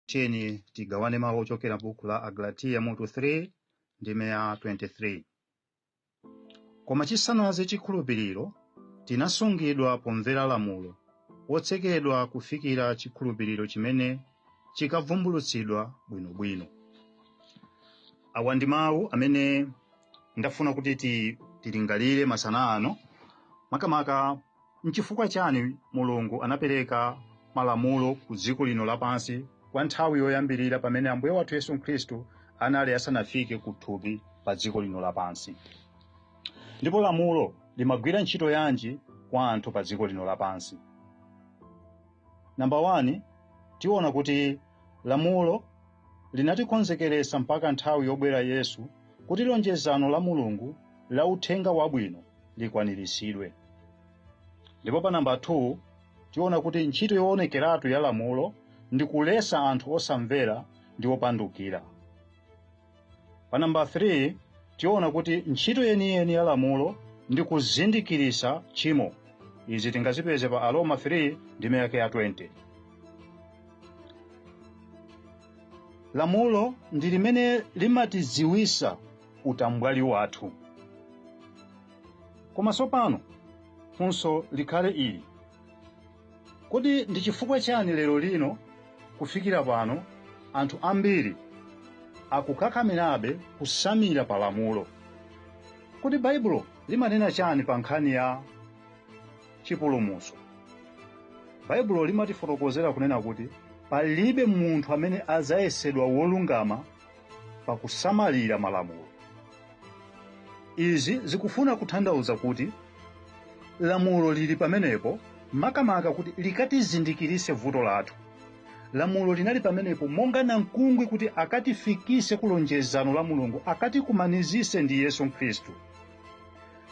tiyeni tigawane mawu ochokera buku la agalatiya mutu 3 ndime ya 23 koma chisanaze chikhulupiriro tinasungidwa pomvera lamulo wotsekedwa kufikira chikhulupiriro chimene chikavumbulutsidwa bwinobwino awa ndi mawu amene ndafuna kuti tilingalire masana ano makamaka N'chifukwa chani Mulungu anapereka malamulo ku dziko lino lapansi kwa nthawi yoyambirira pamene Ambuye wathu Yesu Khristu anali asanafike ku thupi pa dziko lino lapansi? Ndipo lamulo limagwira ntchito yanji kwa anthu pa dziko lino lapansi? Namba 1 tiona kuti lamulo linatikonzekeretsa mpaka nthawi yobwera Yesu kuti lonjezano la Mulungu la uthenga wabwino likwaniritsidwe. Ndipo pa namba 2 tiona kuti ntchito yoonekeratu ya lamulo ndi kuletsa anthu osamvera ndi opandukira. Pa namba 3 tiona kuti ntchito yeniyeni ya lamulo ndi kuzindikiritsa tchimo. Izi tingazipeze pa Aroma 3 ndime yake ya 20. lamulo ndi limene limatidziwisa utambwali wathu koma tsopano funso likhale ili kodi ndi chifukwa chani lero lino kufikira pano anthu ambiri akukakamirabe kusamira pa lamulo kodi baibulo limanena chani pa nkhani ya chipulumutso. Baibulo limatifotokozera kunena kuti palibe munthu amene adzayesedwa wolungama pa kusamalira malamulo. Izi zikufuna kutanthauza kuti lamulo lili pamenepo makamaka kuti likatizindikiritse vuto lathu. Lamulo linali pamenepo monga namkungwi kuti akatifikitse ku lonjezano la Mulungu, akatikumanizitse ndi Yesu Khristu.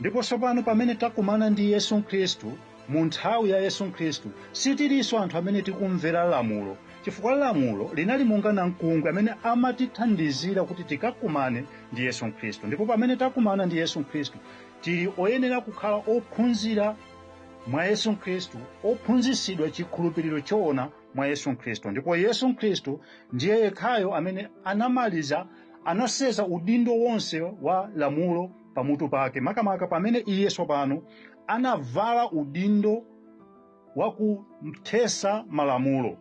ndipo tsopano pamene takumana ndi yesu khristu mu nthawi ya yesu khristu sitilinso anthu amene tikumvera lamulo chifukwa lamulo linali monga namkungwi amene amatithandizira kuti tikakumane ndi yesu khristu ndipo pamene takumana ndi yesu khristu tili oyenera kukhala ophunzira mwa yesu khristu ophunzitsidwa chikhulupiriro choona mwa yesu khristu ndipo yesu khristu ndiye yekhayo amene anamaliza anasenza udindo wonse wa lamulo pamutu pake makamaka pamene iye tsopano anavala udindo wa kuthesa malamulo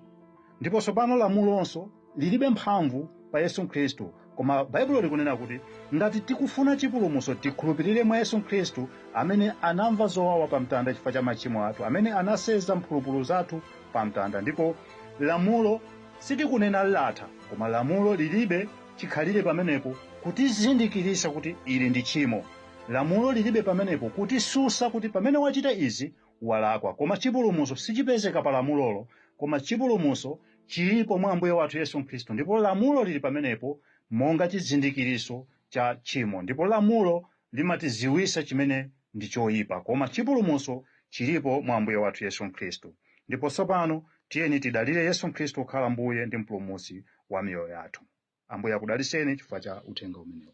ndipo tsopano lamulonso lilibe mphamvu pa yesu khristu koma baibulo likunena kuti ngati tikufuna chipulumutso tikhulupirire mwa yesu khristu amene anamva zowawa pa mtanda chifukwa cha machimo athu amene anasenza mphulupulu zathu pa mtanda ndipo lamulo Sitikunena latha, koma lamulo lilibe chikhalire pamenepo kutizindikiritsa kuti ili ndi tchimo. Lamulo lilibe pamenepo kutisusa kuti pamene wachita izi walakwa, koma chipulumutso sichipezeka pa lamulolo, koma chipulumutso chilipo mwa Ambuye wathu Yesu Khristu, ndipo lamulo lili pamenepo monga chizindikiritso cha tchimo, ndipo lamulo limatiziwisa chimene ndi choipa, koma chipulumuso chilipo mwa Ambuye wathu Yesu Khristu. Ndipo tsopano tiyeni tidalire Yesu Khristu kukhala Mbuye ndi Mpulumutsi wa miyoyo yathu. Ambuye akudaliseni chifukwa cha uthenga umenewu.